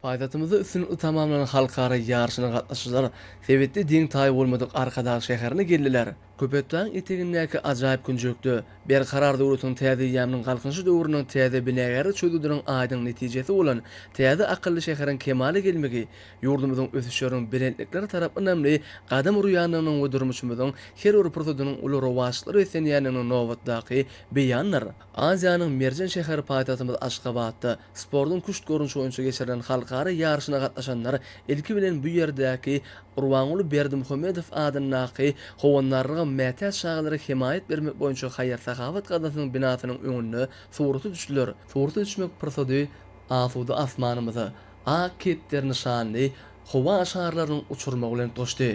Paýtagtymyzda üstünlikli tamamlanan halkara ýaryşyna gatnaşyjylar sebitde deň-taýy bolmadyk Arkadag şäherine geldiler. Köpetdagyň etegindäki ajaýyp künjekde Berkarar döwletiň täze eýýamynyň Galkynyşy döwrüniň täze binagärlik çözgüdiniň aýdyň netijesi bolan täze akylly şäheriň kemala gelmegi ýurdumyzyň ösüşleriň belentlikleri tarap ynamly gadam urýandygynyň we durmuşymyzyň her bir pursadynyň uly rowaçlyklar beslenýändiginiň nobatdaky beýanydyr. Aziýanyň merjen şäheri paýtagtymyz Aşgabatda sportuň küşt görnüşi boýunça geçirilen halkara ýaryşyna gatnaşanlar ilki bilen bu ýerdäki Gurbanguly Berdimuhamedow adyndaky Howandarlyga mätäç çagalara hemaýat bermek boýunça haýyr-sahawat gaznasynyň binasynyň öňünde surata düşdüler. Surata düşmek pursady asuda asmanymyza ak kepderi nyşanly howa şarlarynyň uçurmagy bilen tuşdy.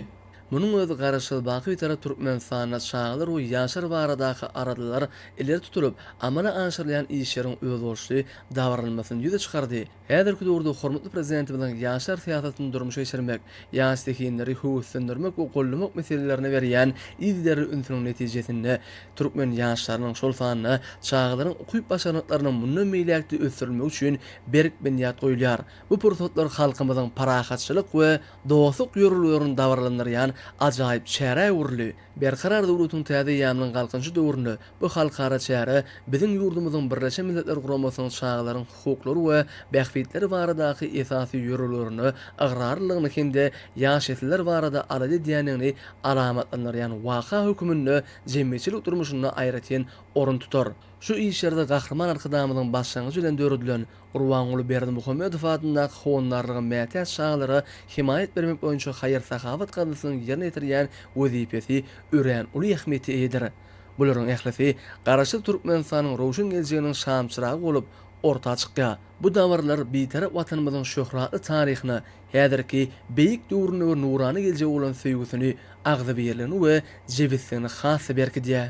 Munuň özi Garaşsyz, baky Bitarap Türkmenistanda çagalar we ýaşlar baradaky aladalar ileri tutulyp, amala aşyrylýan işleriň özboluşly dabranylmasyny ýüze çykardy. Häzirki döwürde hormatly Prezidentimiziň ýaşlar syýasatyny durmuşa geçirmek, ýaş zehinleri höweslendirmek we gollamak meselelerine berýän yzygiderli ünsüniň netijesinde, türkmen ýaşlarynyň, şol sanda çagalaryň ukyp-başarnyklarynyň mundan beýläk-de ösdürilmegi üçin berk binýat goýulýar. Bu pursatlar halkymyzyň parahatçylyk we dostluk ýörelgelerini dabaralandyrýan ajaýyp çärä öwrüldi. Berkarar döwletiň täze eýýamynyň Galkynyşy döwründe bu halkara çäre biziň ýurdumyzyň Birleşen Milletler Guramasynyň çagalaryň hukuklary we bähbitleri baradaky esasy ýörelgelerine ygrarlylygyny hem-de ýaş nesiller barada alada edýändigini alamatlandyrýan waka höküminde jemgyýetçilik durmuşynda aýratyn orun tutar. Şu işlerde Gahryman Arkadagymyzyň başlangyjy bilen döredilen Gurbanguly Berdimuhamedow adyndaky Howandarlyga mätäç çagalara hemaýat bermek boýunça haýyr-sahawat gaznasynyň ýerine ýetirýän wezipesi örän uly ähmiýete eýedir. Bularyň ählisi Garaşsyz Türkmenistanyň röwşen geljeginiň şamçyragy bolup orta çykýar. Bu dabaralar Bitarap Watanymyzyň şöhratly taryhyna, häzirki beýik döwrüne we nurana geljege bolan söýgüsini, agzybirligini we jebisligini has-da berkidýär.